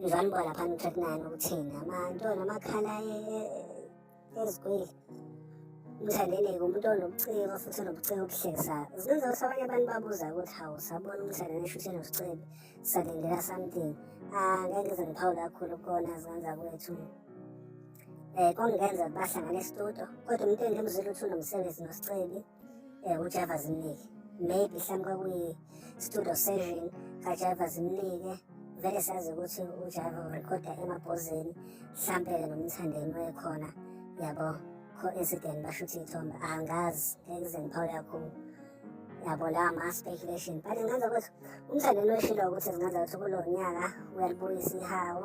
Mzwani boy lapha no 39 ukuthini amantwana amakhala ezigwili umthandene umuntu onobuciko futhi onobuciko obuhlekisayo zininzi ukuthi abanye abantu babuza ukuthi hawu sabona umthandene shuthi enosicebe salindela something ah, ngeke ngize ngiphawu kakhulu kukona zikwenza kwethu um eh, kongenza bahlangane estudio kodwa umuntu engimzile ukuthi unomsebenzi nosicebi eh, ujava zimnike maybe mhlawumbe kwakuyi-studio session kajava zimnike vele sazi ukuthi ujava urekhoda emabhozeni mhlampe-ke nomthandeni wekhona yabo co-incident bashuthi iy'thombe angazi ngeke kuze ngiphawule kakhulu yabo lawa ma-speculation but ngenza ukuthi umthandeni weshilo ukuthi zingenza ukuthi kulo nyaka uyalibuyisa ihawu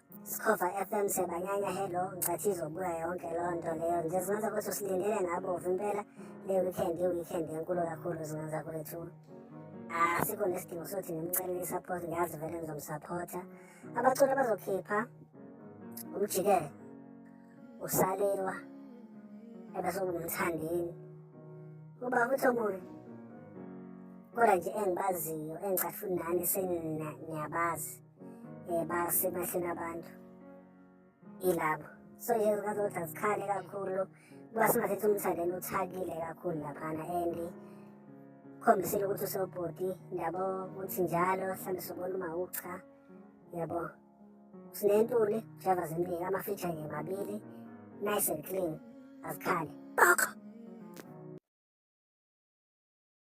Sikhova FM sebanyanya hello ngicathi izobuya yonke loo nto leyo nje zingenza ukuthi usilindele ngabovu impela le weekend i-weekend enkulu kakhulu zingenza kwethu asikho nesidingo sothi ngimcelele i-support ngiyazi vele ngizomsapotha abaculi abazokhipha umjikele usalelwa ebese ungumthandeni uba futhi omunye kodwa nje engibaziyo engicathi futhi nani seniyabazi um basebahleni abantu ilabo so nje zikwazi ukuthi azikhale kakhulu kuba singathetha umthandeni uthakile kakhulu laphana and khombisile ukuthi usewubhuti ndiyabo ukuthi njalo mhlawumbe sobona uma ucha yabo sinentuli java zimbili amafitsha nje mabili nice and clean azikhale boko